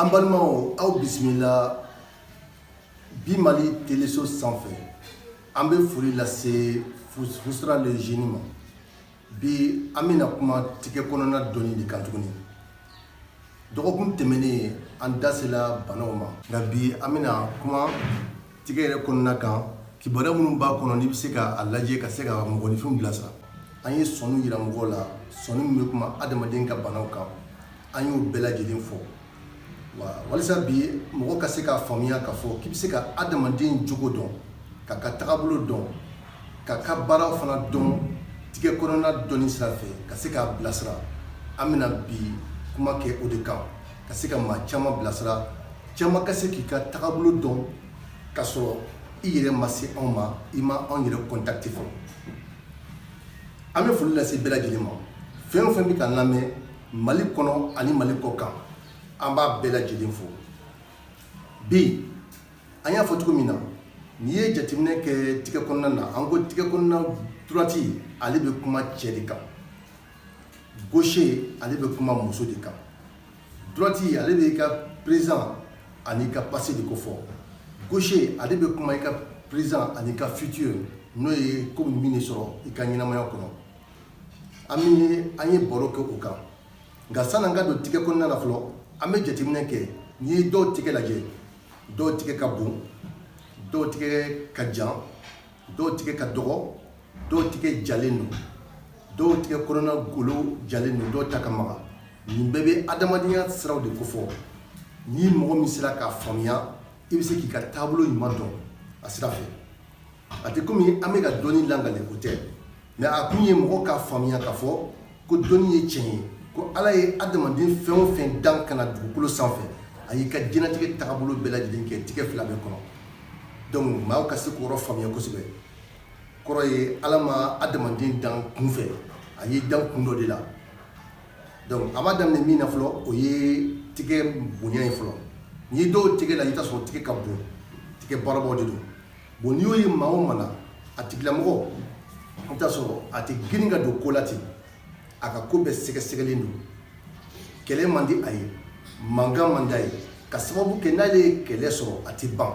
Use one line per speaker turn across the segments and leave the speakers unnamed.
An balimaw aw bisimila bi mali teleso sanfɛ an bɛ foli lase fusira le génie ma bi an bɛna kuma tigɛ kɔnɔna dɔnni de kan tuguni dɔgɔkun tɛmɛnen an dasela banaw ma nka bi an bɛna kuma Tigɛ yɛrɛ kɔnɔna kan kibaruya minnu b'a kɔnɔ n'i bɛ se k'a lajɛ ka se ka mɔgɔninfinw bilasira an ye sɔnin yira mɔgɔw la sɔnin min bɛ kuma adamaden ka banaw kan an y'o bɛɛ lajɛlen fɔ walasa bi mɔgɔ ka se k'a faamuya k'a fɔ k'i bɛ se ka adamaden jogo dɔn k'a ka tagabolo dɔn k'a ka baaraw fana dɔn tigɛ kɔnɔna dɔnni sira fɛ ka se k'a bilasira an bɛna bi kuma kɛ o de kan ka se ka maa caman bilasira Caman ka se k'i ka tagabolo dɔn ka sɔrɔ i yɛrɛ ma se anw ma i ma anw yɛrɛ contacté fɔlɔ an bɛ foli lase bɛɛ lajɛlen ma fɛn o fɛn bɛ k'an lamɛn mali kɔnɔ ani mali kɔ kan an b'a bɛɛ lajɛlen fo bi an y'a fɔ cogo min na n'i ye jateminɛ kɛ tigɛ kɔnɔna na an ko tigɛ kɔnɔna droite ale bɛ kuma cɛ de kan gauche ale bɛ kuma muso de kan droite ale bɛ i ka présent ani i ka passé de ko fɔ gauche ale bɛ kuma i ka présent ani i ka futur n'o ye komi min de sɔrɔ i ka ɲɛnamaya kɔnɔ an bɛ an ye baro kɛ o kan nka san'an ka don tigɛ kɔnɔna na fɔlɔ an bɛ jateminɛ kɛ n'i ye dɔw tigɛ lajɛ dɔw tigɛ ka bon dɔw tigɛ ka jan dɔw tigɛ ka dɔgɔ dɔw tigɛ jalen don dɔw tigɛ kɔnɔna golo jalen don dɔw ta ka maga nin bɛɛ bɛ adamadenya siraw de kofɔ ni mɔgɔ min sera k'a faamuya i bɛ se k'i ka taabolo ɲuman dɔn a sira fɛ a tɛ komi an bɛ ka dɔnni langali o tɛ Mɛ a kun ye mɔgɔ k'a faamuya k'a fɔ ko dɔnni ye tiɲɛ ye ko ala ye adamaden fɛn o fɛn dan ka na dugukolo sanfɛ a y'i ka diɲɛlatigɛ taabolo bɛɛ lajɛlen kɛ tigɛ fila bɛɛ kɔnɔ donc maa ka se k'o yɔrɔ faamuya kosɛbɛ kɔrɔ ye ala ma adamaden dan kunfɛ a y'i dan kun dɔ de la donc a b'a daminɛ min na fɔlɔ o ye tigɛ bonya ye fɔlɔ n'i ye dɔw tigɛ lajɛ i t'a sɔrɔ tigɛ ka bon tigɛ baarabaw de don bon n'i y'o ye maa o maa na a tigilamɔgɔ i t'a sɔrɔ a tɛ girin ka don ko la ten a ka ko bɛɛ sɛgɛsɛgɛlen don kɛlɛ man di a ye mankan man d'a ye ka sababu kɛ n'ale ye kɛlɛ sɔrɔ a tɛ ban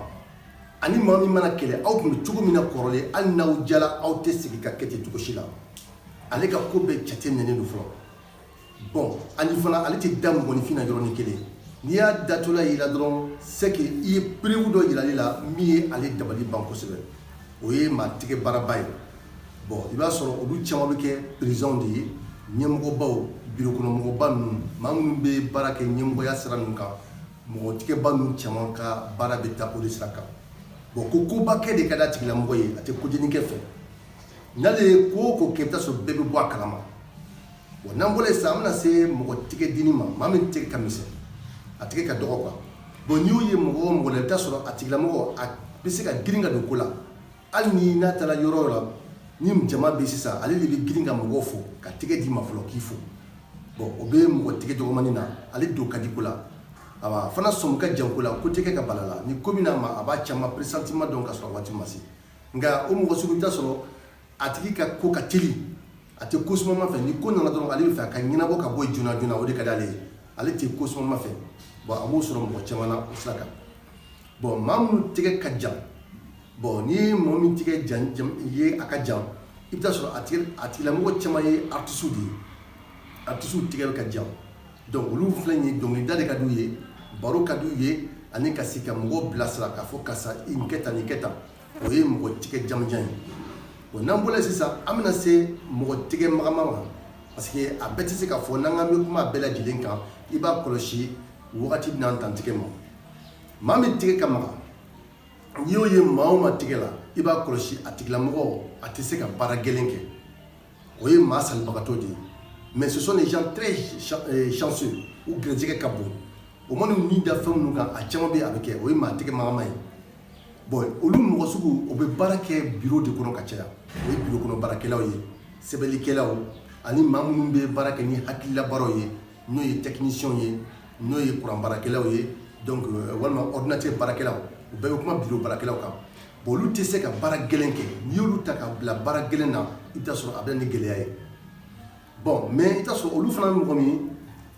ani maa min man'a kɛlɛ aw tun bɛ cogo min na kɔrɔlen hali n'aw diyala aw tɛ segin ka kɛ ten cogo si la ale ka ko bɛɛ jateminɛnen don fɔlɔ bon ani fana ale tɛ da mɔgɔninfin na yɔrɔnin kelen n'i y'a datɔla y'i la dɔrɔn c'est que i ye preuve dɔ yira ale la min ye ale dabali ban kosɛbɛ o ye maa tigɛ baaraba ye bon i b'a sɔrɔ olu caman bɛ kɛ perezidanw de ye ɲɛmɔgɔbaw birokɔnɔmɔgɔba ninnu maa minnu bɛ baara kɛ ɲɛmɔgɔya sira ninnu kan mɔgɔ tigɛba ninnu caman ka baara bɛ taa o de sira kan bon ko koba kɛ de ka d'a tigilamɔgɔ ye a tɛ kodennin kɛ fɛ n'ale ye ko o ko kɛ i bɛ taa sɔrɔ bɛɛ bɛ bɔ a kalama Bon n'an bɔra yen sisan an bɛna se mɔgɔ tigɛ dennin ma maa min tigɛ ka misɛn a tigɛ ka dɔgɔ quoi bon n'i y'o ye mɔgɔ o mɔgɔ la i bɛ taa sɔrɔ a tigilamɔgɔ a bɛ se ka girin ka don ko la hali ni n'a taara yɔrɔ o yɔrɔ ni jama bɛ sisan ale de bɛ girin ka mɔgɔw fo k'a tigɛ d'i ma fɔlɔ k'i fo bon o bɛ mɔgɔ tigɛ dɔgɔmanin na ale don ka di ko la awa fana sɔmi ka jan ko la ko tɛ kɛ ka bala a la ni ko min n'a ma a b'a caman pressentiment dɔn ka sɔrɔ waati ma se nka o mɔgɔ sugu i bɛ taa sɔrɔ a tigi ka ko ka teli a tɛ ko sumaman fɛ ni ko nana dɔrɔn ale b'a fɛ a ka ɲɛnabɔ ka bɔ joona joona o de ka di ale ye ale tɛ ko sumaman fɛ bon a b'o sɔrɔ mɔgɔ caman na o sira kan bon maa minnu tɛgɛ ka jan bon n'i ye mɔgɔ min tɛgɛ jan jan ye a ka jan i bɛ taa sɔrɔ a tigi a tigilamɔgɔ caman ye artisiw de ye artisiw tɛgɛ bɛɛ ka jan donc olu filɛ nin ye dɔnkilida de ka d'u ye baro ka d'u ye ani ka se ka mɔgɔw bilasira k'a fɔ karisa i nin kɛ tan nin kɛ tan o ye mɔgɔ tigɛ jamanjan ye bon n'an bɔra yen sisan an bɛna se mɔgɔ tigɛ magaman ma parce que a bɛɛ tɛ se ka fɔ n'an k'an bɛ kuma bɛɛ lajɛlen kan i b'a kɔlɔsi wagati bɛn'an dan tigɛ ma maa min tigɛ ka maga n'i y'o ye maa o maa tigɛ la i b'a kɔlɔsi a tigilamɔgɔ a tɛ se ka baara gɛlɛn kɛ o ye maa salibagatɔ de ye mais ce sont des gens très euh, chanceux u gɛrɛjɛgɛ ka bon u man'u ni da fɛn minnu kan a caman bɛ yen a bɛ kɛ o ye maa tɛgɛ magaman ye bon olu mɔgɔ sugu o bɛ baara kɛ biro de kɔnɔ ka caya o ye biro kɔnɔ baarakɛlaw ye sɛbɛnnikɛlaw ani maa minnu bɛ baara kɛ ni hakililabaaraw ye n'o ye tɛkinisiyɛnw ye n'o ye kuranbaarakɛlaw ye donc euh, walima ordinateur baarakɛlaw u bɛɛ bɛ kuma biro baarakɛlaw kan olu tɛ se ka baara gɛlɛn kɛ n'i y'olu ta ka bila baara gɛlɛn na i bɛ taa sɔrɔ a bɛ na ni gɛlɛya ye bon mais i bɛ taa sɔrɔ olu fana mɔgɔ min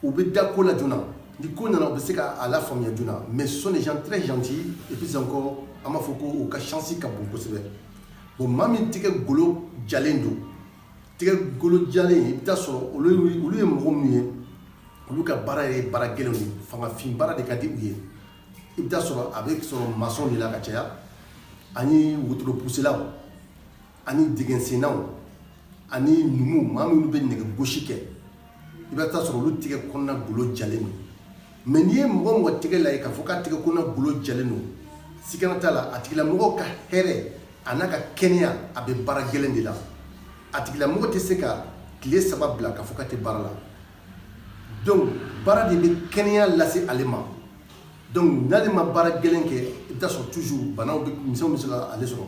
u bɛ da ko la joona ni ko nana u bɛ se k'a lafaamuya joona mais ce sont des gens très gentils et puis encore an b'a fɔ ko u ka chance ka bon kosɛbɛ bon maa min tɛgɛ golo jalen don tɛgɛ golo jalen i bɛ taa sɔrɔ olu ye mɔgɔ min ye olu ka baara ye baara gɛlɛn ye fangafin baara de ka di u ye i bɛ taa sɔrɔ a bɛ sɔrɔ masɔn de la ka caya ani wotoropusilaw ani dingɛsennaw ani numu maa minnu bɛ nɛgɛ gosi kɛ i bɛ taa sɔrɔ olu tigɛ kɔnɔna golo jalen don mais n'i ye mɔgɔ o mɔgɔ tɛgɛ lajɛ k'a fɔ k'a tigɛ kɔnɔna golo jalen don sigana t'a la a tigilamɔgɔ ka hɛrɛ an'a ka kɛnɛya a bɛ baara gɛlɛn de la a tigilamɔgɔ tɛ se ka tile saba bila k'a fɔ k'a tɛ baara la donc baara de bɛ kɛnɛya lase ale ma donc n'ale ma baara gɛlɛn kɛ i bɛ taa sɔrɔ toujours banaw bɛ misɛnw bɛ se ka ale sɔrɔ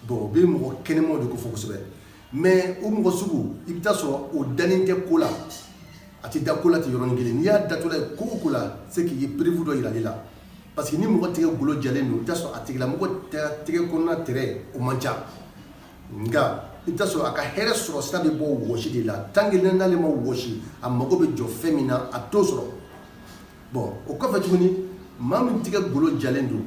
bon o bɛ mɔgɔ kɛnɛmaw de ko fɔ kosɛbɛ mais o mɔgɔ sugu i bɛ taa sɔrɔ o dalen tɛ ko la a tɛ da ko la ten yɔrɔnin kelen n'i y'a datɔla ye ko o ko la c'est qu'i ye preuve dɔ yira ale la parce que ni mɔgɔ tigɛ golo jalen don i bɛ taa sɔrɔ a tigilamɔgɔ tigɛ kɔnɔna tɛrɛ o man ca nka i bɛ taa sɔrɔ a ka hɛrɛ sɔrɔ sira bɛ bɔ wɔsi de la tant que n'ale ma wɔsi a mago bɛ jɔ fɛn min na a t'o sɔrɔ bon o kɔfɛ tuguni maa min tigɛ golo jalen don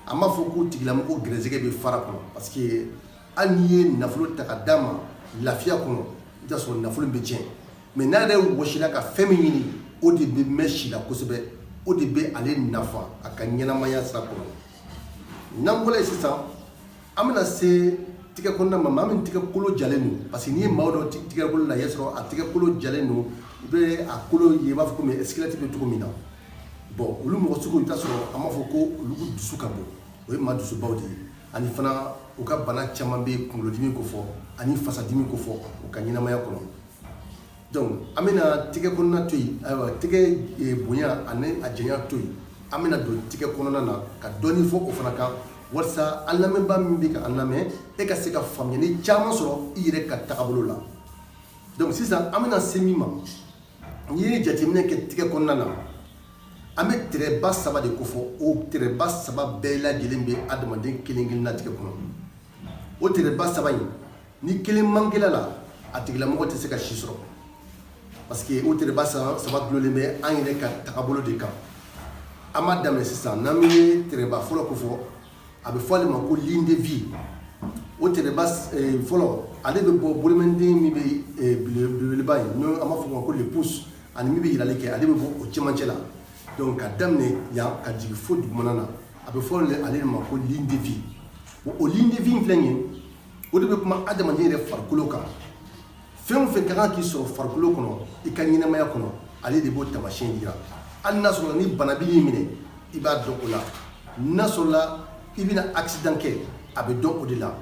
an b'a fɔ ko tigilamɔgɔ gɛrɛsɛgɛ bɛ fara kɔnɔ parce que hali n'i ye nafolo ta ka d'a ma lafiya kɔnɔ i bɛ taa sɔrɔ nafolo bɛ tiɲɛ mais n'a yɛrɛ wɔsila ka fɛn min ɲini o de bɛ mɛn si la kosɛbɛ o de bɛ ale nafa a ka ɲɛnamaya sira kɔnɔ n'an bɔra yen sisan An bɛna se tigɛ kɔnɔna ma maa min tigɛ kolo jalen don parce que n'i ye maa dɔ tigɛ kolo lajɛ i b'a sɔrɔ a tigɛ kolo jalen don i bɛ a kolo ye i b'a fɔ ko squelette bɛ cogo min na bon olu mɔgɔ sugu i bɛ taa sɔrɔ an b'a fɔ ko olu dusu ka bon o ye maa dusubaw de ye ani fana u ka bana caman bɛ kunkolodimi ko fɔ ani fasadimi ko fɔ u ka ɲɛnamaya kɔnɔ Donc an bɛna tigɛ kɔnɔna to yen ayiwa tigɛ bonya ani a janya to yen an bɛna don tigɛ kɔnɔna na ka dɔɔnin fɔ o fana kan walasa an lamɛnba min bɛ ka an lamɛn e ka se ka faamuyali caman sɔrɔ i yɛrɛ ka tagabolo la donc sisan an bɛna se min ma n'i ye jateminɛ kɛ tigɛ kɔnɔna na an bɛ tɛrɛba saba de ko fɔ o tɛrɛba saba bɛɛ lajɛlen bɛ adamaden kelen kelen na tigɛ kɔnɔ o tɛrɛba saba in ni kelen mankela la a tigilamɔgɔ tɛ se ka si sɔrɔ parce que o tɛrɛba saba dulonnen bɛ an yɛrɛ ka tagabolo de kan an b'a daminɛ sisan n'an bɛ tɛrɛba fɔlɔ ko fɔ a bɛ fɔ ale ma ko ligne de vie o tɛrɛba eh, fɔlɔ ale bɛ bɔ bolomɛnden min bɛ eh, belebeleba ye n'o an b'a fɔ o ma ko le pouce ani min bɛ yirali kɛ ale bɛ bɔ o cɛmancɛ la donc ka daminɛ yan ka jigin fo dugumana na a bɛ fɔ ale de ma ko ligne de vie o ligne de vie in filɛ nin ye o de bɛ kuma adamaden yɛrɛ farikolo kan fɛn o fɛn ka kan k'i sɔrɔ farikolo kɔnɔ i ka ɲɛnamaya kɔnɔ ale de b'o taamasiyɛn jira hali n'a sɔrɔ ni bana b'i minɛ i b'a dɔn o la n'a sɔrɔla i bɛna accident kɛ a bɛ dɔn o de la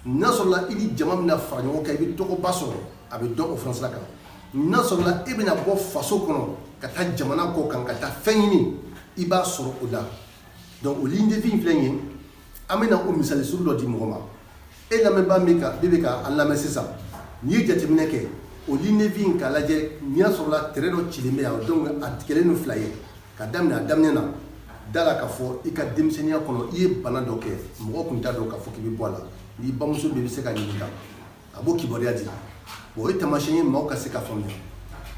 n'a sɔrɔla i ni jama bɛna fara ɲɔgɔn kan i bɛ tɔgɔba sɔrɔ a bɛ dɔn o fana sira kan n'a sɔrɔla e bɛna bɔ faso kɔnɔ ka taa jamana kɔ kan ka taa fɛn ɲini i b'a sɔrɔ o la donc o ligne de vie in filɛ nin ye an bɛna o misali sugu dɔ di mɔgɔ ma e lamɛnba min bɛ ka an lamɛn sisan n'i ye jateminɛ kɛ o ligne de vie in k'a lajɛ ni a sɔrɔla tɛrɛ dɔ cilen bɛ yan donc a tigɛlen don fila ye ka daminɛ a daminɛ na da a la k'a fɔ i ka denmisɛnninya kɔnɔ i ye bana dɔ kɛ mɔgɔ tun t'a dɔn k'a fɔ k'i bɛ bɔ a la n'i bamuso bɛ i bɛ se k'a ɲininka a b'o kibaruya di bon o ye taamasiyɛn ye maaw ka se ka faamuya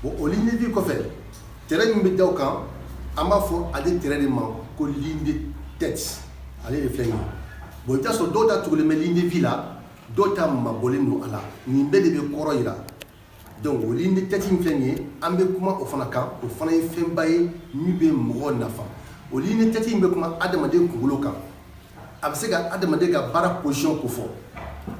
bon o ligne de vie kɔfɛ tɛrɛ min bɛ da o kan an b'a fɔ ale tɛrɛ de ma ko ligne de tête ale de filɛ nin ye bon i bɛ t'a sɔrɔ dɔw ta tugulen bɛ ligne de vie la dɔw ta mabɔlen don a la nin bɛɛ de bɛ kɔrɔ yira donc o ligne de tête in filɛ nin ye an bɛ kuma o fana kan o fana ye fɛnba ye min bɛ mɔgɔ nafa o ligne de tête in bɛ kuma adamaden kunkolo kan a bɛ se ka adamaden ka baara position kofɔ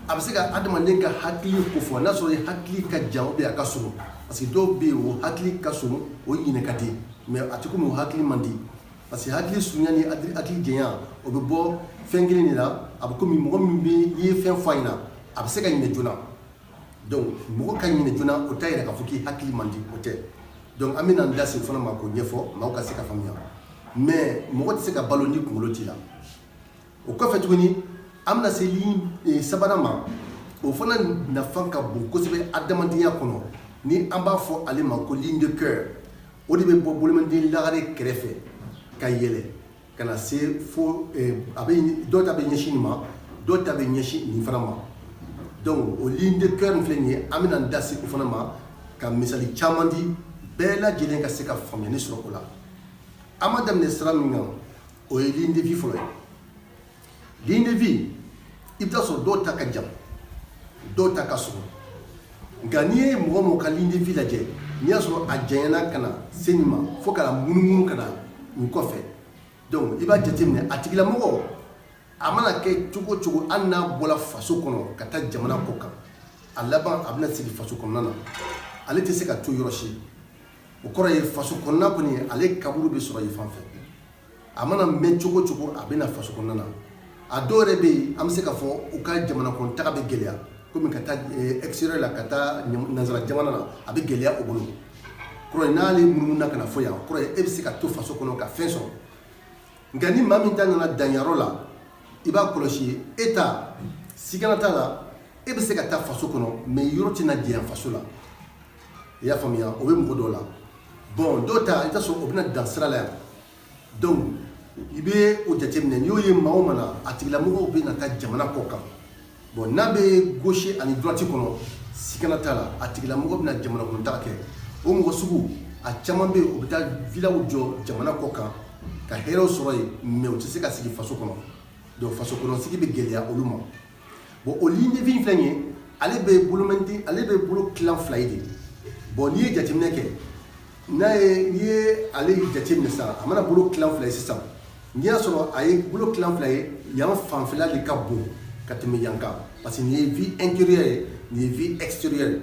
a bɛ se ka adamaden ka hakili kofɔ n'a sɔrɔ hakili ka jan ou bien a ka surun parce que dɔw bɛ yen o hakili ka surun o ɲinɛ ka di mais a tɛ komi o hakili man di parce que hakili surunya ni hakili janya o bɛ bɔ fɛn kelen de la a bɛ komi mɔgɔ min bɛ n'i ye fɛn fɔ a ɲɛna a bɛ se ka ɲinɛ joona donc mɔgɔ ka ɲinɛ joona o t'a yira k'a fɔ k'i hakili man di o tɛ donc an bɛna an da se o fana ma k'o ɲɛfɔ maaw ka se ka faamuya mais mɔgɔ tɛ se ka balo ni kunkolo t'i la o kɔfɛ tuguni an bɛna se ligne eh, sabanan ma o fana nafa ka bon kosɛbɛ adamadenya kɔnɔ ni an b'a fɔ ale ma ko ligne de cœur o de bɛ bɔ bolomanden lagare kɛrɛfɛ ka yɛlɛ ka na se fo a bɛ dɔ ta bɛ ɲɛsin nin ma dɔ ta bɛ ɲɛsin nin fana ma donc o ligne de cœur in filɛ nin ye an bɛna an da se o fana ma ka misali caman di bɛɛ lajɛlen ka se ka faamuyali sɔrɔ o la an b'a daminɛ sira min kan o ye ligne de vie fɔlɔ ye Ligne de vie i bɛ t'a sɔrɔ dɔw ta ka jan dɔw ta ka surun nka n'i ye mɔgɔ mɔgɔ ka ligne de vie lajɛ n'i y'a sɔrɔ a janyana ka na se nin ma fo ka na munumunu ka na nin kɔfɛ donc i b'a jateminɛ a tigilamɔgɔ a mana kɛ cogo cogo hali n'a bɔra faso kɔnɔ ka taa jamana kɔ kan a laban a bɛna segin faso kɔnɔna na ale tɛ se ka to yɔrɔ si o kɔrɔ ye faso kɔnɔna kɔni ale kaburu bɛ sɔrɔ yen fan fɛ a mana mɛn cogo cogo a bɛ na faso kɔnɔna na a dɔw yɛrɛ bɛ yen an bɛ se k'a fɔ u ka jamana kɔnɔ taga bɛ gɛlɛya komi ka taa eh, extérieur la ka taa nansara jamana na a bɛ gɛlɛya u bolo kɔrɔ ye n'ale munumununa ka na fo yan kɔrɔ ye e bɛ se ka to faso kɔnɔ ka fɛn sɔrɔ nka ni maa min ta nana dan yɔrɔ la i b'a kɔlɔsi e ta sigana t'a la e bɛ se ka taa faso kɔnɔ mais yɔrɔ tɛna janya faso la i y'a faamuya o bɛ mɔgɔ dɔw la bon dɔw ta i t'a sɔrɔ o bɛna dan sira la yan donc i bɛ o jateminɛ n'i y'o ye maa o maa na a tigilamɔgɔw bɛna taa jamana kɔ kan bon n'a bɛ gauche ani droite kɔnɔ sigana t'a la a tigilamɔgɔ bɛna jamana kɔnɔ taga kɛ o mɔgɔ sugu a caman bɛ yen o bɛ taa vilaw jɔ jamana kɔ kan ka hɛrɛw sɔrɔ yen mais u tɛ se ka sigi faso kɔnɔ donc faso kɔnɔ sigi bɛ gɛlɛya olu ma bon o ligne de vie in filɛ nin ye ale bɛ bolomɛnti ale bɛ bolo tilan fila ye de bon n'i ye jateminɛ kɛ n'i ye n'i ye ale jateminɛ sisan a mana bolo tilan fila ye sisan n'i y'a sɔrɔ a ye bolo tilan fila ye yan fanfɛla de ka bon ka tɛmɛ yan kan parce que nin ye vie intérieure ye nin ye vie extérieure ye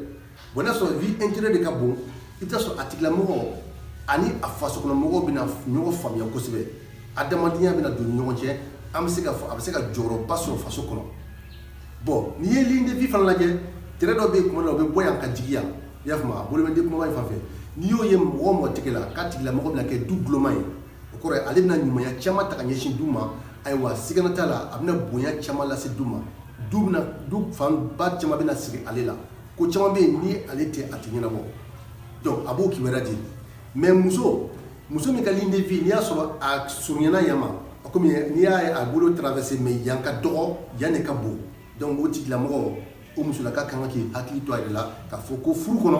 Bon n'a sɔrɔ vie intérieure de ka bon i bɛ t'a sɔrɔ a tigila mɔgɔ ani a faso kɔnɔ mɔgɔw bɛna ɲɔgɔn faamuya kosɛbɛ adamadenya bɛna don u ni ɲɔgɔn cɛ an bɛ se k'a fɔ a bɛ se ka jɔyɔrɔba sɔrɔ faso kɔnɔ bon n'i ye ligne de vie fana lajɛ trait dɔ bɛ yen tuma dɔ la o bɛ bɔ yan ka jigin yan i y'a faamu a bolo bɛ den kumaba in fan fɛ n'i y'o ye mɔgɔ o mɔgɔ tɛgɛ la k'a tigila mɔgɔ bɛna kɛ du ntuloma ye o kɔrɔ ye ale bɛna ɲumanya caman ta ka ɲɛsin du ma ayiwa sigana t'a la a bɛna bonya caman lase du ma du bɛna du fanba caman bɛna siri ale la ko caman bɛ yen ni ale tɛ a tɛ ɲɛnabɔ donc a b'o kibaruya di mais muso muso min ka ligne de vie n'i y'a sɔrɔ a surunyana yan ma kɔmi n'a y'a bolo traverser mais yan ka dɔgɔ yan de ka bon donc o tigilamɔgɔ o musola ka kan k'i hakili to a yɛrɛ la k'a fɔ ko furu kɔnɔ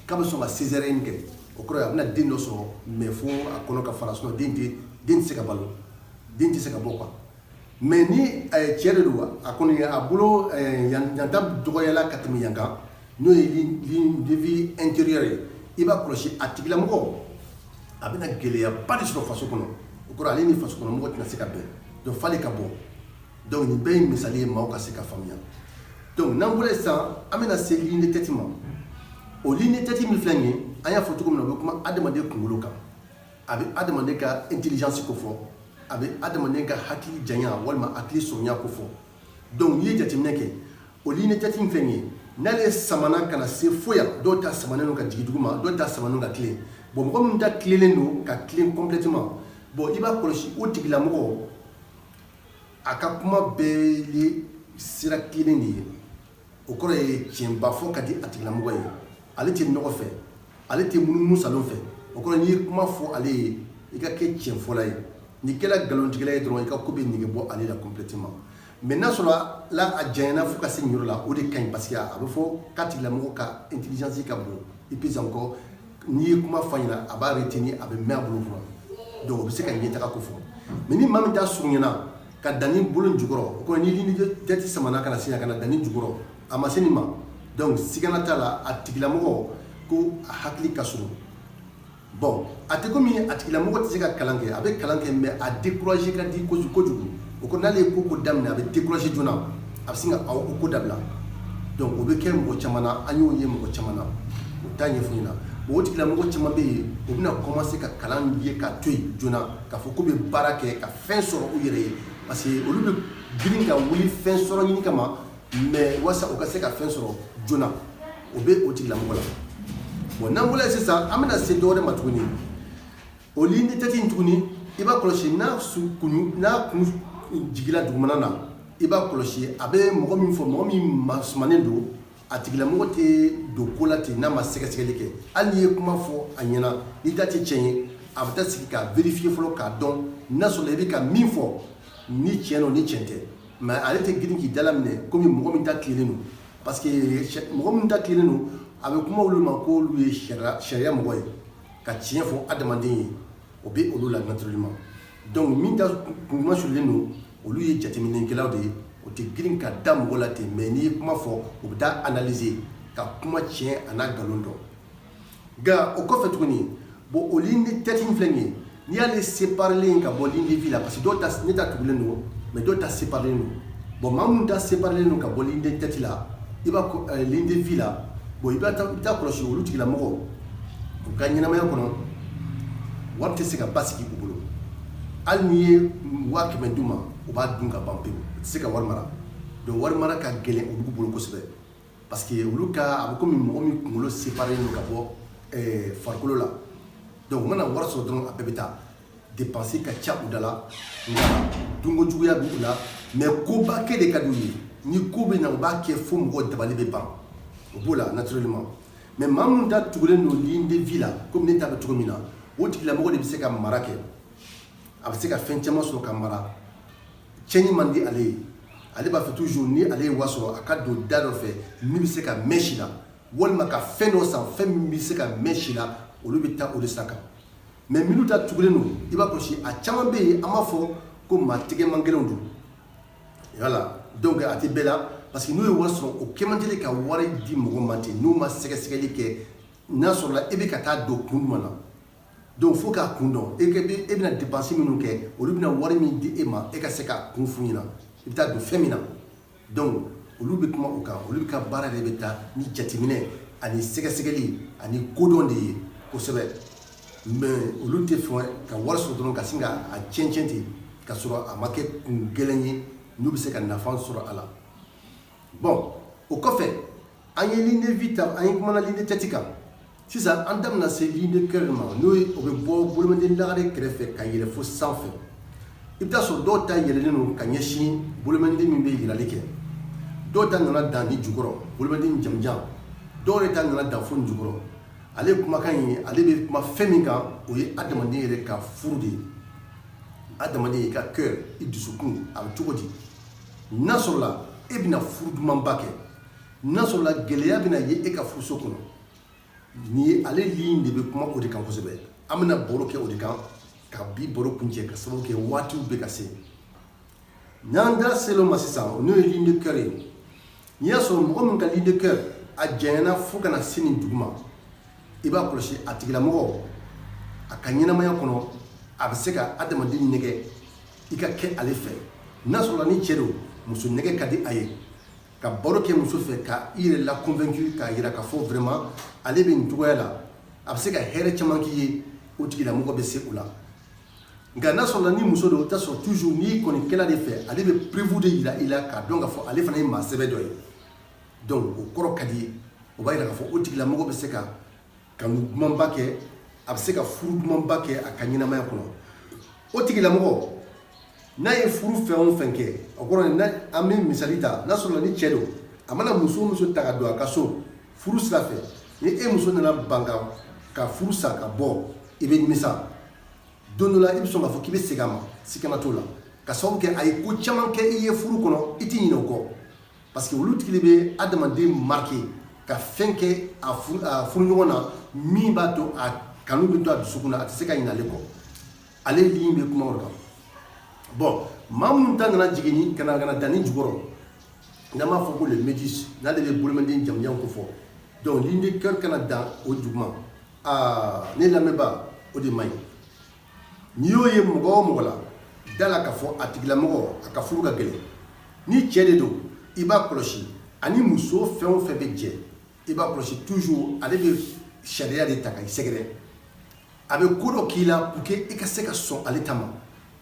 k'a bɛ sɔn ka césarienne kɛ o kɔrɔ a bɛna den dɔ sɔrɔ mais fo a kɔnɔ ka fara sinon den tɛ se ka balo den tɛ se ka bɔ quoi Mais ni cɛ de don a kɔni a bolo yan ta dɔgɔyala ka tɛmɛ yan kan n'o ye ligne de vie intérieure ye i b'a kɔlɔsi a tigilamɔgɔ a bɛna gɛlɛyaba de sɔrɔ faso kɔnɔ o kɔrɔ ale ni faso kɔnɔmɔgɔ tɛna se ka bɛn donc f'ale ka bɔ donc nin bɛɛ ye misali ye maaw ka se ka faamuya donc n'an bɔra yen sisan an bɛna se ligne de tête ma o ligne de tête min filɛ nin ye an y'a fɔ cogo min na o bɛ kuma adama adamaden kunkolo kan a bɛ adamaden ka intelligence ko fɔ a bɛ adamaden ka hakili janya walima hakili surunya ko fɔ donc n'i ye jateminɛ kɛ o ligne de tête in filɛ nin ye n'ale samana ka na se fo yan dɔw ta samanen don ka jigin duguma dɔw ta samanen don ka tilen bon mɔgɔ minnu ta tilenen don ka tilen complètement bon i b'a kɔlɔsi o tigilamɔgɔ a ka kuma bɛɛ ye sira tilennen de ye o kɔrɔ ye tiɲɛba fɔ ka di a tigilamɔgɔ ye ale tɛ nɔgɔ fɛ ale tɛ munumunu saalo fɛ o kɔrɔ n'i ye kuma fɔ ale ye i ka kɛ tiɲɛfɔla ye n'i kɛra nkalontigɛla ye dɔrɔn i ka ko bɛ nege bɔ ale la complètement mais n'a sɔrɔla a janyana fo ka se nin yɔrɔ la o de ka ɲi parce que a bɛ fɔ k'a tigilamɔgɔ ka intelligence ka bon et puis encore n'i ye kuma fɔ a ɲɛna a b'a retenir a bɛ mɛn a bolo kɔrɔ donc o bɛ se ka ɲɛtaga ko fɔ mais ni maa min ta surunyana ka dan nin bolo jukɔrɔ o kɔrɔ ni ligne de tête samana ka na se yan ka na dan nin jukɔrɔ a ma se nin ma donc sigana t'a la a tigilamɔgɔ ko a hakili ka surun bon a tɛ komi a tigilamɔgɔ tɛ se ka kalan kɛ a bɛ kalan kɛ mais a découragé ka di ko kojugu o kɔrɔ n'ale ye ko ko daminɛ a bɛ découragé joona a bɛ sin ka o ko dabila donc o bɛ kɛ mɔgɔ caman na an y'o ye mɔgɔ caman na o taa ɲɛfɔ ɲɛna o tigilamɔgɔ caman bɛ yen o bɛna commencer ka kalan ye ka to yen joona k'a fɔ ko bɛ baara kɛ ka fɛn sɔrɔ u yɛrɛ ye parce que olu bɛ girin ka wuli fɛn sɔrɔ ɲini kama mais wasa u ka se ka fɛn sɔrɔ joona o bɛ o tigilamɔgɔ la bon n'an bɔra sisan an bɛna se dɔ wɛrɛ ma tuguni o ligne de tête in tuguni i b'a kɔlɔsi n'a kun jigila dugumana na i b'a kɔlɔsi a bɛ mɔgɔ min fɔ mɔgɔ min masumanen don a tigilamɔgɔ tɛ don ko la ten n'a ma sɛgɛsɛgɛli kɛ hali n'i ye kuma fɔ a ɲɛna n'i ta tɛ tiɲɛ ye a bɛ taa sigi k'a vérifier fɔlɔ k'a dɔn n'a sɔrɔla i bɛ ka min fɔ ni tiɲɛ don ni tiɲɛ tɛ mais ale tɛ girin k'i dala minɛ komi mɔgɔ min ta tilennen don parce que mɔgɔ min ta tilennen don a bɛ kuma olu ma k'olu ye sariya mɔgɔ ye ka tiɲɛ fɔ adamaden ye o bɛ olu la naturellement donc min ta kun masulen don olu ye jateminɛkɛlaw de ye o tɛ girin ka da mɔgɔ la ten mais n'i ye kuma fɔ u bɛ taa analyser ka kuma tiɲɛ a n'a nkalon dɔn nka o kɔfɛ tuguni bon o ligne de tête in filɛ nin ye n'i y'ale séparelen ka bɔ ligne de vie la parce que dɔw ta ne ta tugulen don mais dɔw ta séparelen don bon maa minnu ta séparelen don ka bɔ ligne de tête la i b'a ko ligne de vie la bon i bɛ taa kɔlɔsi olu tigilamɔgɔ u ka ɲɛnamaya kɔnɔ wari tɛ se ka basigi u bolo hali n'i ye waa kɛmɛ d'u ma u b'a dun ka ban pewu u tɛ se ka wari mara donc wari mara ka gɛlɛn olu bolo kosɛbɛ parce que olu ka a bɛ komi mɔgɔ min kunkolo séparelen don ka bɔ eh, farikolo la donc u mana wari sɔrɔ dɔrɔn a bɛɛ bɛ taa dépense ka ca u da la nka dunko juguya b'u la mais koba kɛ de ka d'u ye ni ko bɛ na u b'a kɛ fo mɔgɔ dabali bɛ ban o b'o la naturellement mais maa minnu ta tugulen don ligne de vie la komi ne ta bɛ cogo min na o tigilamɔgɔ de bɛ se ka mara kɛ a bɛ se ka fɛn caman sɔrɔ ka mara cɛni man di ale ye ale b'a fɛ toujours ni ale ye wari sɔrɔ a ka don da dɔ fɛ min bɛ se ka mɛn si la walima ka fɛn dɔ san fɛn min bɛ se ka mɛn si la olu bɛ taa o de san kan mais minnu ta tugulen don i b'a kɔlɔsi a caman bɛ yen an b'a fɔ ko maa tɛgɛmagɛlɛnw don voilà donc a tɛ bɛɛ la parce que n'u ye wari sɔrɔ o kɛ man teli ka wari di mɔgɔ ma ten n'u ma sɛgɛsɛgɛli kɛ n'a sɔrɔla e bɛ ka taa don kun jumɛn na donc fo k'a kun dɔn e bɛ e bɛna dépense minnu kɛ olu bɛna wari min di e ma e ka se k'a kun f'u ɲɛna i bɛ taa don fɛn min na donc olu bɛ kuma o kan olu ka baara de bɛ taa ni jateminɛ ani sɛgɛsɛgɛli ani kodɔn de ye kosɛbɛ mais olu t'a fɛ ka wari sɔrɔ dɔrɔn ka sin ka a cɛncɛn ten ka sɔrɔ a ma kɛ kun gɛlɛn ye n'u bɛ se ka nafa sɔrɔ a la bon o kɔfɛ an ye ligne de vie ta an ye kumana ligne de tête kan sisan an da bɛna se ligne de cœur ma n'o ye o bɛ bɔ bolomɛden lagare kɛrɛfɛ ka yɛlɛ fo sanfɛ i bɛ taa sɔrɔ dɔw ta yɛlɛlen don ka ɲɛsin bolomɛden min bɛ yirali kɛ dɔw ta nana dan nin jukɔrɔ bolomɛden jamanjan dɔw yɛrɛ ta nana dan fo jukɔrɔ ale kumakan ye ale bɛ kuma fɛn min kan o ye adamaden yɛrɛ ka furu de ye adamaden i ka cœur i dusukun a bɛ cogo di n'a sɔrɔla e bɛna furu dumanba kɛ n'a sɔrɔla gɛlɛya bɛna ye e ka furuso kɔnɔ nin ye ale ligne de bɛ kuma o de kan kosɛbɛ an bɛna baro kɛ o de kan ka bi baro kuncɛ ka sababu kɛ waatiw bɛ ka se n'an da selen o ma sisan n'o ye ligne de cœur ye n'i y'a sɔrɔ mɔgɔ min ka ligne de cœur a janyana fo ka na se nin duguma i b'a kɔlɔsi a tigilamɔgɔ a ka ɲɛnamaya kɔnɔ a bɛ se ka adamaden nɛgɛ i ka kɛ ale fɛ n'a sɔrɔla ni cɛ don muso nɛgɛ ka di a ye ka baro kɛ muso fɛ ka i yɛrɛ la convaincu k'a yira k'a fɔ vraiment ale bɛ nin cogoya la a bɛ se ka hɛrɛ caman k'i ye o tigilamɔgɔ bɛ se o la nka n'a sɔrɔla ni muso don i t'a sɔrɔ toujours n'i kɔni kɛla de fɛ ale bɛ preuve de yira i la k'a dɔn k'a fɔ ale fana ye maa sɛbɛ dɔ ye donc o kɔrɔ ka di ye o b'a yira k'a fɔ o tigilamɔgɔ bɛ se ka kanu dumanba kɛ a bɛ se ka furu dumanba kɛ a ka ɲɛnamaya kɔnɔ o tigilamɔgɔ n'a ye furu fɛn o fɛn kɛ o kɔrɔ ye an bɛ misali ta n'a sɔrɔla ni cɛ don a mana muso o muso ta ka don a ka so furu sira fɛ ni e muso nana ban ka ka furu sa ka bɔ i bɛ nimisa don dɔ la i bɛ sɔn k'a fɔ k'i bɛ segin a ma sikana t'o la ka sababu kɛ a ye ko caman kɛ i ye furu kɔnɔ i tɛ ɲinɛ o kɔ parce que olu tigi de bɛ adamaden marquer ka fɛn kɛ a furuɲɔgɔn na min b'a to a kanu bɛ to a dusukun na a tɛ se ka ɲinɛ ale kɔ ale ligne bɛ kuma o kan bon maa minnu ta nana jigin ka na ka na dan nin jukɔrɔ n'an b'a fɔ ko le médius n'ale bɛ bolomanden jamanjan kofɔ donc ligne de cœur ka na dan o duguma aa ne lamɛnbaa o de man ɲi n'i y'o ye mɔgɔ o mɔgɔ la d'a la k'a fɔ a tigilamɔgɔ a ka furu ka gɛlɛn ni cɛ de don i b'a kɔlɔsi a ni muso fɛn o fɛn bɛ jɛ i b'a kɔlɔsi toujours ale bɛ sariya de ta ka i sɛgɛrɛ a bɛ ko dɔ k'i la pour que i ka se ka sɔn ale ta ma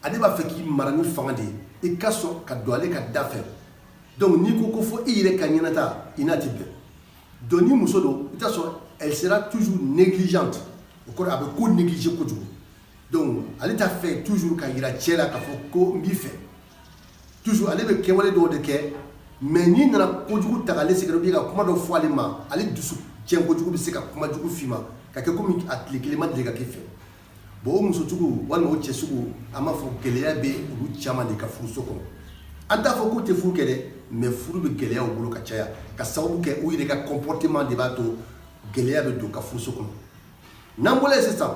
ale b'a fɛ k'i mara ni fanga de ye i ka sɔn ka don ale ka da fɛ donc n'i ko ko fo i yɛrɛ ka ɲɛnata i n'a tɛ bɛn donc ni muso don i t'a sɔrɔ elle sera toujours négligente o kɔrɔ a bɛ ko négliger kojugu donc ale t'a fɛ toujours k'a yira cɛ la k'a fɔ ko n b'i fɛ toujours ale bɛ kɛwale dɔw de kɛ mais n'i nana kojugu ta k'ale sɛgɛrɛ ka kuma dɔ fɔ ale ma ale dusu cɛn kojugu bɛ se ka kuma jugu f'i ma ka kɛ kɔmi a tile kelen ma deli ka k'i fɛ bon o muso sugu walima o cɛ sugu an b'a fɔ gɛlɛya bɛ olu caman de ka furuso kɔnɔ an t'a fɔ k'u tɛ furu kɛ dɛ mais furu bɛ gɛlɛya u bolo ka caya ka sababu kɛ u yɛrɛ ka comportement de b'a to gɛlɛya bɛ don ka furuso kɔnɔ n'an bɔra sisan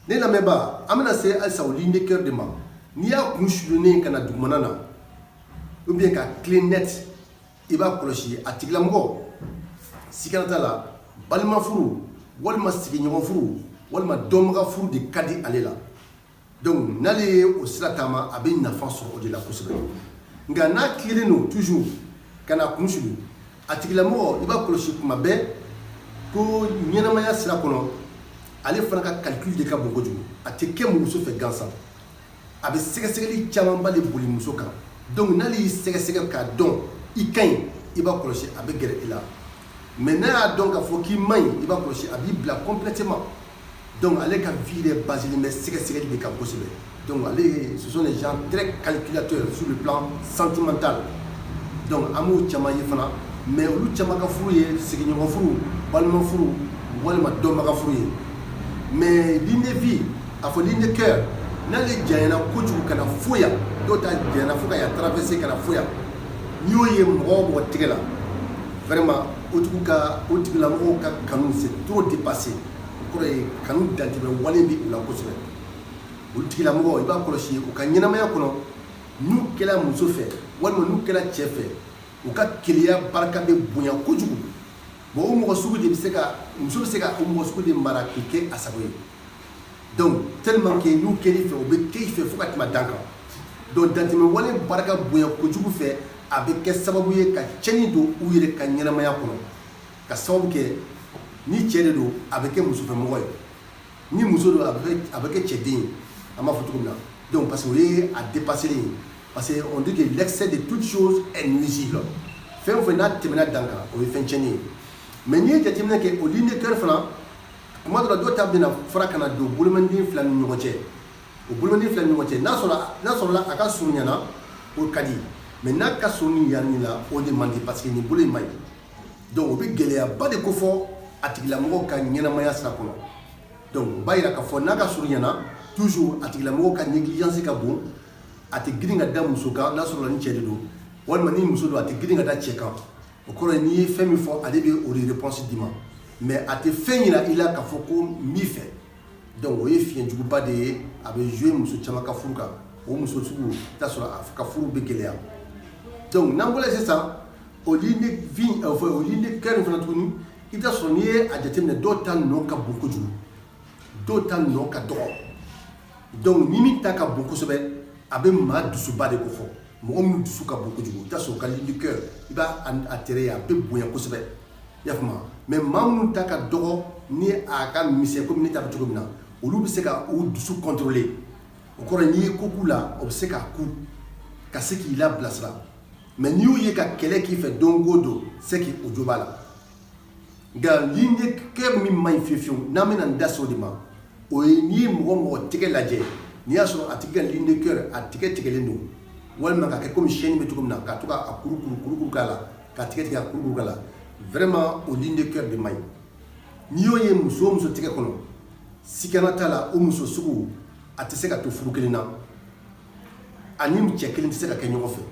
ne lamɛnbaa an bɛna se halisa o ligne de cœur de ma n'i y'a kun sulunen ka na dugumana na ou bien ka tilen net i b'a kɔlɔsi a tigilamɔgɔ sikana t'a la balima furu walima sigiɲɔgɔn furu walima dɔnbaga furu de ka di ale la donc n'ale ye o sira taama a bɛ nafa sɔrɔ o de la kosɛbɛ nka n'a tilennen don toujours ka na kun sulu a tigilamɔgɔ i b'a kɔlɔsi kuma bɛɛ ko ɲɛnamaya sira kɔnɔ ale fana ka calcul de ka bon kojugu a tɛ kɛ muso fɛ gansan a bɛ sɛgɛsɛgɛli camanba de boli muso kan donc n'ale y'i sɛgɛsɛgɛ k'a dɔn i ka ɲi i b'a kɔlɔsi a bɛ gɛrɛ i la mais n'a y'a dɔn k'a fɔ k'i man ɲi i b'a kɔlɔsi a b'i bila complètement donc ale ka vie yɛrɛ basilen bɛ sɛgɛsɛgɛli de kan kosɛbɛ donc ale ce sont des gens très calculateurs sur le plan sentimental donc an b'o caman ye fana mais olu caman ka furu ye sigiɲɔgɔn furu balima furu walima dɔnbaga furu ye mais ligne de vie a fɔ ligne de cœur n'ale janyana kojugu ka na fo yan dɔw ta janyana fo ka traverser ka na fo yan n'i y'o ye mɔgɔ o mɔgɔ tigɛ la vraiment en tout cas o tigilamɔgɔw ka kanu c'est trop dépassé o kɔrɔ ye kanu dantɛmɛ wale bɛ u la kosɛbɛ o tigilamɔgɔ i b'a kɔlɔsi u ka ɲɛnamaya kɔnɔ n'u kɛra muso fɛ walima n'u kɛra cɛ fɛ u ka keleya barika bɛ bonya kojugu bon o mɔgɔ sugu de bɛ se ka muso bɛ se ka o mɔgɔ sugu de mara k'i kɛ a sago ye donc tellement que n'u kɛr'i fɛ u bɛ kɛ i fɛ fo ka tɛmɛ dan kan donc dantɛmɛ wale barika bonya kojugu fɛ a bɛ kɛ sababu ye ka tiɲɛni don u yɛrɛ ka ɲɛnamaya kɔnɔ ka sababu kɛ ni cɛ de don a bɛ kɛ musofɛmɔgɔ ye ni muso don a bɛ kɛ cɛden ye an b'a fɔ cogo min na donc parce que o ye a dépassé ye parce que on dit l'excès de toute chose est nuisible fɛn o fɛn n'a tɛmɛna dan kan o ye fɛn tiɲɛni ye mais n'i ye jateminɛ kɛ o ligne de cœur fana tuma dɔ la dɔw ta bɛna fara ka na don bolomanden fila ni ɲɔgɔn cɛ o bolomanden fila ni ɲɔgɔn cɛ n'a sɔrɔ n'a sɔrɔla a ka surun yan na o ka di mais n'a ka surun yanni la o de man di parce que nin bolo in man ɲi donc o bɛ gɛlɛyaba de kofɔ a tigilamɔgɔ ka ɲɛnamaya sira kɔnɔ donc o b'a yira k'a fɔ n'a ka surun yan na toujours a tigilamɔgɔ ka négligence ka bon a tɛ girin ka da muso kan n'a sɔrɔ ni cɛ de don walima ni muso don a tɛ girin ka da cɛ kan o kɔrɔ ye n'i ye fɛn min fɔ ale bɛ o de réponse d'i ma mais a tɛ fɛn yira i la k'a fɔ ko n b'i fɛ donc o ye fiɲɛ juguba de ye a bɛ jouer muso caman ka furu kan o muso sugu i bɛ t'a sɔrɔ a ka furu bɛ gɛlɛya donc n'an bɔra yen sisan o ligne de vie euh, enfin o ligne de cœur in fana tuguni i bɛ t'a sɔrɔ n'i ye a jateminɛ dɔw ta nɔ ka bon kojugu dɔw ta nɔ ka dɔgɔ donc ni min ta ka bon kosɛbɛ a bɛ maa dusuba de kofɔ mɔgɔ minnu dusu ka bon kojugu i t'a sɔrɔ o ka ligne de cœur i b'a a tɛrɛ ye a bɛ bonya kosɛbɛ i y'a faamu mais maa minnu ta ka dɔgɔ ni a ka misɛn komi ne ta bɛ cogo min na olu bɛ se ka u dusu contrôler o kɔrɔ n'i ye ko k'u la o bɛ se k'a kun ka se k'i labilasira mais n'i y'u ye ka kɛlɛ k'i fɛ don o don c'est que o jo b'a la nka ligne de cœur min man ɲi fiyewu fiyewu n'an bɛna n da se o de ma o ye n'i ye mɔgɔ o mɔgɔ tɛgɛ lajɛ n'i y'a sɔrɔ a tigi ka ligne de cœur a tigɛ tigɛlen don walima ka kɛ komi chaîne bɛ cogo min na ka to k'a kuru kuru kuru kuru k'a la ka tigɛ tigɛ a kuru kuru k'a la vraiment o ligne de cœur de man ɲi n'i y'o ye muso o muso tɛgɛ kɔnɔ sikana t'a la o muso sugu a tɛ se ka to furu kelen na a ni cɛ kelen tɛ se ka kɛ ɲɔgɔn fɛ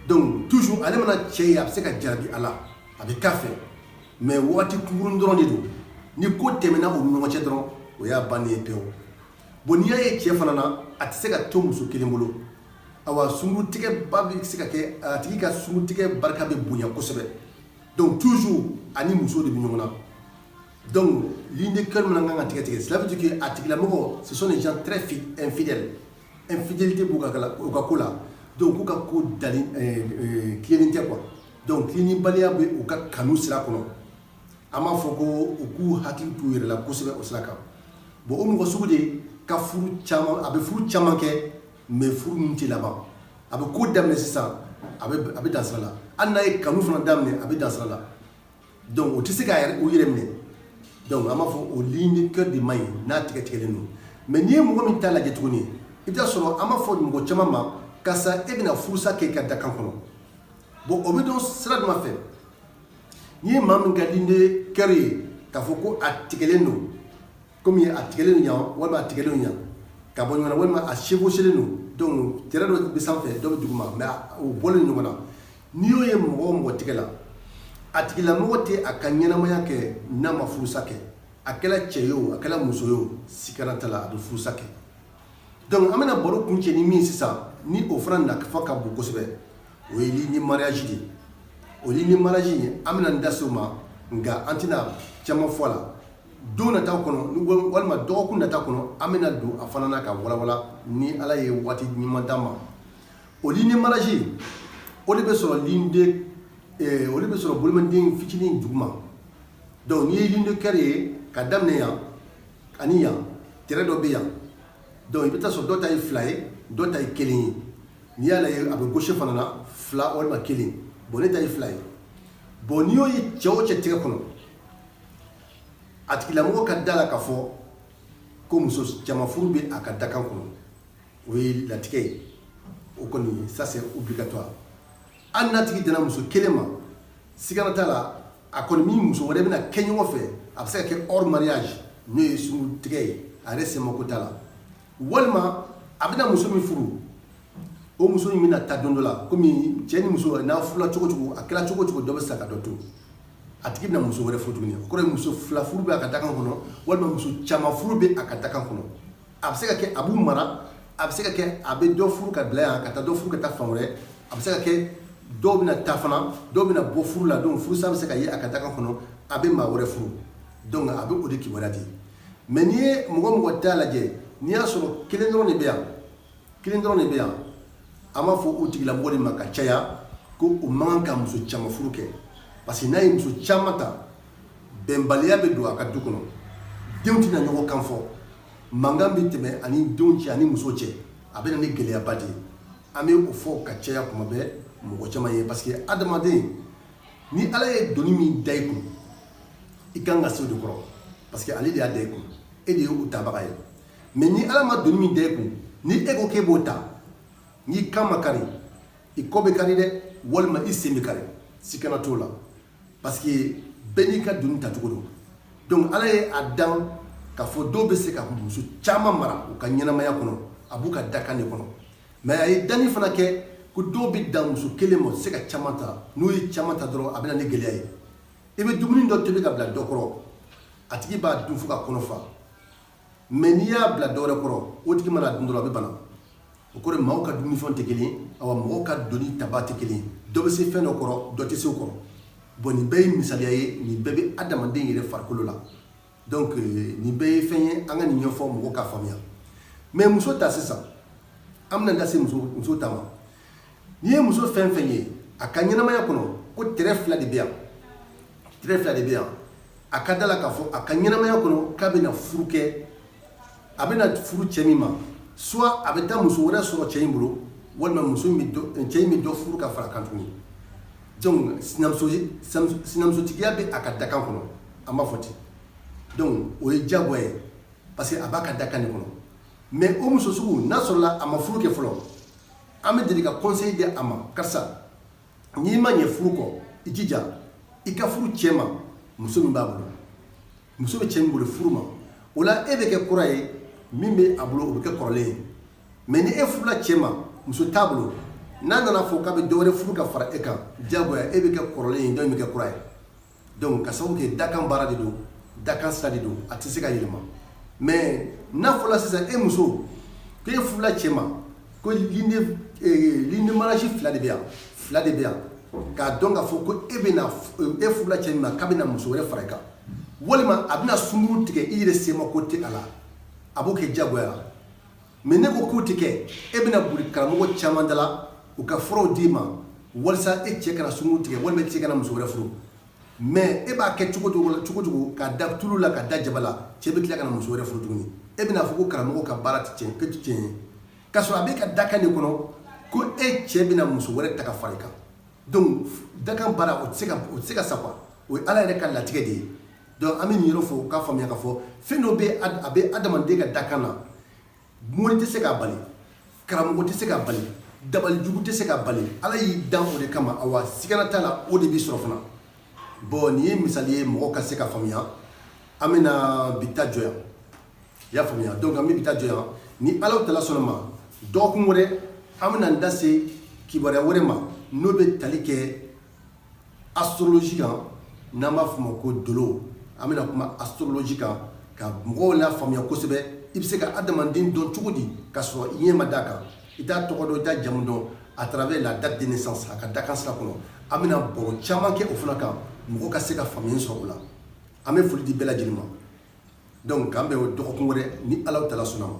donc toujours ale mana cɛ ye a bɛ se ka jarabi a la a bɛ k'a fɛ mais waati kunkurun dɔrɔn de don ni ko tɛmɛna u ni ɲɔgɔn cɛ dɔrɔn o y'a bannen ye pewu bon n'i y'a ye cɛ fana na a tɛ se ka to muso kelen bolo awa sungurutigɛba bɛ se ka kɛ a tigi ka sungurutigɛ barika bɛ bonya kosɛbɛ donc toujours a ni muso de bɛ ɲɔgɔn na Donc ligne de cœur min kan ka tigɛ tigɛ cela veut dire que a tigilamɔgɔ ce sont des gens très infidèles infidélité b'u ka u ka ko la donc u ka ko da tilennen tɛ quoi donc tilennibaliya bɛ u ka kanu sira kɔnɔ an b'a fɔ ko u k'u hakili to u yɛrɛ la kosɛbɛ o sira kan bon o mɔgɔ sugu de ka a bɛ furu caman kɛ mais furu min tɛ laban a bɛ ko daminɛ sisan a bɛ dan sira la hali n'a ye kanu fana daminɛ a bɛ dan sira la donc o tɛ se k'u yɛrɛ minɛ donc an b'a fɔ o ligne de cœur de man ɲi n'a tigɛ tigɛlen don mais n'i ye mɔgɔ min ta lajɛ tuguni i t'a sɔrɔ an b'a fɔ mɔgɔ caman ma karisa e bɛna furusa kɛ i ka dakan kɔnɔ bon o bɛ dɔn sira jumɛn fɛ n'i ye maa min ka ligne de cœur ye k'a fɔ ko a tigɛlen don kɔmi a tigɛlen don yan walima a tigɛlen don yan ka bɔ ɲɔgɔn na walima a chevauchelen don donc tɛrɛ dɔ bɛ sanfɛ dɔ bɛ duguma mais u bɔlen ɲɔgɔn na n'i y'o ye mɔgɔ o mɔgɔ tigɛ la a tigilamɔgɔ tɛ a ka ɲɛnamaya kɛ n'a ma furusa kɛ a kɛra cɛ ye o a kɛra muso ye o sikana t'a la a bɛ furusa kɛ donc an bɛna baro kuncɛ ni min sisan ni o fana nafa ka bon kosɛbɛ o ye ligne mariage de ye o ligne mariage in an bɛna n da se o ma nka an tɛna caman fɔ a la don nata kɔnɔ walima dɔgɔkun nata kɔnɔ an bɛna don a fana na ka walawala ni ala ye waati ɲuman d'an ma o ligne mariage o de bɛ sɔrɔ eh, o de bɛ sɔrɔ boloden fitinin duguma donc n'i ye ligne de cœur ye ka daminɛ yan ani yan tɛrɛ dɔ bɛ yan donc i bɛ taa sɔrɔ dɔ ta ye fila ye dɔ ta ye kelen ye n'i y'a ye a bɛ gauche fana na fila walima kelen bon ne ta ye fila ye bon n'i y'o ye cɛ o cɛ tɛgɛ kɔnɔ a tigilamɔgɔ ka da la k'a fɔ ko muso caman furu bɛ a ka dakan kɔnɔ o ye latigɛ ye o kɔni ça c'est obligatoire hali n'a tigi dana muso kelen ma sigana t'a la a kɔni ni muso wɛrɛ bɛna kɛ ɲɔgɔn fɛ a bɛ se ka kɛ hors mariage n'o ye sungurutigɛ ye a yɛrɛ sɛmako t'a la walima a bɛna muso min furu o muso in bɛna taa don dɔ la kɔmi cɛ ni muso n'a furula cogo cogo a kɛra cogo cogo dɔ bɛ sa ka dɔ to a tigi bɛna muso wɛrɛ furu tuguni o kɔrɔ ye muso fila furu bɛ a ka dakan kɔnɔ walima muso caman furu bɛ a ka dakan kɔnɔ a bɛ se ka kɛ a b'u mara a bɛ se ka kɛ a bɛ dɔ furu ka bila yan ka taa dɔ furu ka taa fan wɛrɛ a bɛ se ka kɛ dɔw bɛna taa fana dɔw bɛna bɔ furu la donc furusa bɛ se ka ye a ka dakan kɔnɔ a bɛ maa wɛrɛ furu donc a bɛ o de kibaruya di mais n'i ye mɔgɔ mɔgɔ ta lajɛ n'i y'a sɔrɔ kelen dɔrɔn de bɛ yan kelen dɔrɔn de bɛ yan an b'a fɔ o tigilamɔgɔ de ma ka caya ko o man kan ka muso caman furu kɛ parce que n'a ye muso caman ta bɛnbaliya bɛ don a ka du kɔnɔ denw tɛna ɲɔgɔn kan fɔ mankan bɛ tɛmɛ ani denw cɛ ani muso cɛ a bɛ na ni gɛlɛyaba de ye an bɛ o fɔ ka caya kuma bɛɛ mɔgɔ caman ye parce que adamaden ni ala ye doni min da i kun i kan ka se o de kɔrɔ parce que ale de y'a da i kun e de ye o tabaga ye mais ni ala ma doni min da i kun ni e ko k'e b'o ta n'i kan ma kari i kɔ bɛ kari dɛ walima i sen bɛ kari sikana t'o la parce que bɛɛ n'i ka doni tacogo don donc ala ye a dan k'a fɔ dɔw bɛ se ka muso caman mara u ka ɲɛnamaya kɔnɔ a b'u ka dakan de kɔnɔ mais a ye danni fana kɛ ko dɔw bɛ dan muso kelen ma se ka caman ta n'u ye caman ta dɔrɔn a bɛna ni gɛlɛya ye i bɛ dumuni dɔ tobi ka bila dɔ kɔrɔ a tigi b'a dun fo k'a kɔnɔ fa mais n'i y'a bila dɔwɛrɛ kɔrɔ o tigi mana dun dɔrɔn a bɛ bana o kɔrɔ maaw ka dumunifɛn tɛ kelen awa mɔgɔw ka doni taba tɛ kelen dɔ bɛ se fɛn dɔ kɔrɔ dɔ tɛ se o kɔrɔ bon nin bɛɛ ye misaliya ye nin bɛɛ bɛ adamaden yɛrɛ farikolo la donc euh, nin bɛɛ ye fɛn ye an ka nin ɲɛfɔ mɔgɔw k'a faamuya mais muso ta sisan an bɛna da se muso muso ta ma n'i ye muso fɛn fɛn ye a ka ɲɛnamaya kɔnɔ ko trait fila de bɛ yan trait fila de bɛ yan a ka da la k'a fɔ a ka ɲɛnamaya kɔnɔ k'a bɛna furu kɛ a bɛna furu cɛ min ma soit a bɛ taa muso wɛrɛ sɔrɔ cɛ in bolo walima muso in bɛ dɔ cɛ in bɛ dɔ furu ka fara kan tuguni Donc sinamusotigiya bɛ a ka dakan kɔnɔ an b'a fɔ ten donc o ye diyagoya ye parce que a b'a ka dakan de kɔnɔ mais o muso sugu n'a sɔrɔla a ma furu kɛ fɔlɔ an bɛ deli ka conseil di a ma karisa n'i ma ɲɛ furu kɔ i jija i ka furu cɛ ma muso min b'a bolo muso bɛ cɛ min bolo furu ma o la e bɛ kɛ kura ye min bɛ a bolo o bɛ kɛ kɔrɔlen ye mais ni e furula cɛ ma muso t'a bolo n'a nana fɔ k'a bɛ dɔ wɛrɛ furu ka fara e kan diyagoya e bɛ kɛ kɔrɔlen ye dɔ in bɛ kɛ kura ye donc ka sababu kɛ dakan baara de don dakan sira de don a tɛ se ka yɛlɛma mais n'a fɔla sisan e muso k'e furula cɛ ma ko ligne de mariage fila de bɛ yan fila de bɛ yan k'a dɔn k'a fɔ ko e bɛna e furula cɛ min ma k'a bɛna muso wɛrɛ fara i kan walima a bɛna sunkuru tigɛ i yɛrɛ sema ko tɛ a la a b'o kɛ diyagoya la mais n'e ko k'o tɛ kɛ e bɛna boli karamɔgɔ caman da la u ka furaw d'i ma walisa e cɛ kana sunkuru tigɛ walima e cɛ kana muso wɛrɛ furu Mais e b'a kɛ cogo cogo k'a da tulu la k'a da jaba la cɛ bɛ tila ka na muso wɛrɛ furu tuguni e bɛna fɔ ko karamɔgɔ ka baara tɛ tiɲɛ ye k'a sɔrɔ a b'e ka dakan de kɔnɔ ko e cɛ bɛna muso wɛrɛ ta ka fara i kan donc dakan baara o tɛ se ka sa quoi o ye ala yɛrɛ ka latigɛ de ye donc an bɛ nin yɔrɔ fɔ k'a faamuya k'a fɔ fɛn dɔ bɛ a bɛ adamaden ka dakan na mori tɛ se k'a bali karamɔgɔ tɛ se k'a bali dabalijugu tɛ se k'a bali ala y'i dan o de kama awa sigana t'a la o de b'i sɔrɔ fana bon nin ye misali ye mɔgɔ ka se ka faamuya an bɛna bi ta jɔ yan i y'a faamuya donc an bɛ bi ta jɔ yan ni alahu taala sɔnna ma dɔgɔkun wɛrɛ an bɛna n da se kibaruya wɛrɛ ma n'o bɛ tali kɛ Astrologie kan n'an b'a fɔ o ma ko dolo, an bɛna kuma astrologie kan ka mɔgɔw lafaamuya kosɛbɛ, i bɛ se ka adamaden dɔn cogo di k'a sɔrɔ i ɲɛ ma d'a kan, i t'a tɔgɔ dɔn, i t'a jamu dɔn à travers la date de naissance a ka dakan sira kɔnɔ, an bɛna baro caman kɛ o fana kan mɔgɔ ka se ka faamuyali sɔrɔ o la, an bɛ foli di bɛɛ lajɛlen ma donc k'an bɛn dɔgɔkun wɛrɛ ni Alahu taala sɔnna a ma.